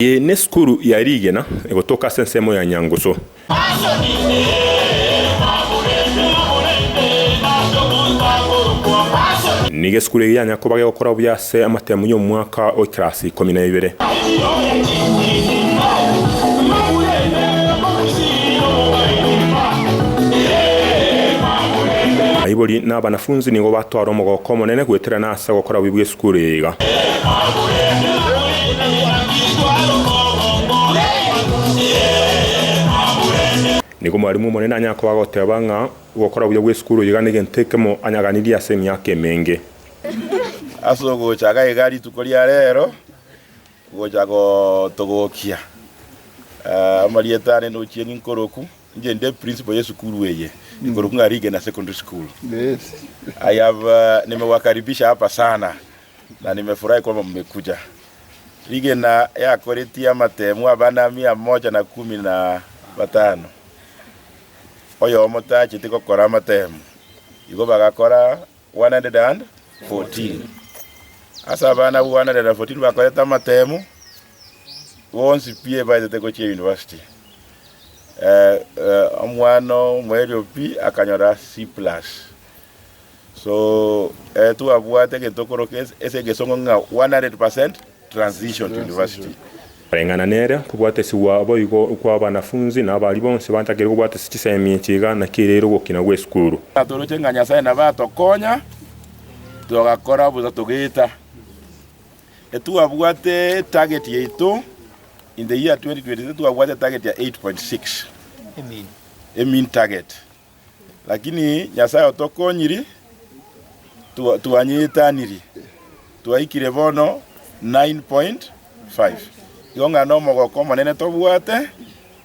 Eye nesukuru ya rigena egotoka ase ensemo ya Nyangusu. Nigo esukuru eye yanya koba gegokora buya ase amatemu y'omwaka o ekerasi ikomi na ibere. Aibori na abanafunzi nigo batwara omogoko omonene goeterana ase. Ase gokora bobe bw'esukuru eye iga. Nigo Mwarimu Omonene anyare koba agoteba ng'a gokora buya bw'esukuru eye iga negento ekemo anyaganirie ase emiaka emenge. Ase ogochaka iga rituko ria rero, gocha gotogokia amarieta aane nochieg'e nkoroku. Inche inde principal ye sukuru eye igoro kung'a Rigena Secondary School. I have uh, nimewakaribisha hapa sana na nimefurahi kwamba mmekuja. Rigena yakoretie amatemu abana mia moja na kumi na batano oyomo tacheti gokora amatemu igo bagakora 114 ase abana abwo 114 bakorete amatemu bonsi pi ebaetete gochia university. Eh, eh, omwana omoerio pi akanyora C plus. So eh, twabwate egento okoroka ase- ase egesongo ng'a 100% transition to university. Koreng'ana nere, tobwate esigwa boigo kwa abanafunzi na abari bonsi batakeire kobwata ase chisemi echi iga naki ereire ogokina gw'esukuru. Natoroche ng'a Nyasae nabo atokonya, togakora bosa togeeta. Etwabwate target yaito in the year 2023 twabwate target ya 8.6 e mean target lakini Nyasaye otokonyiri twa- twanyeetaniri twaikire bono 9.5 igo ng'a nomogoko omonene tobwate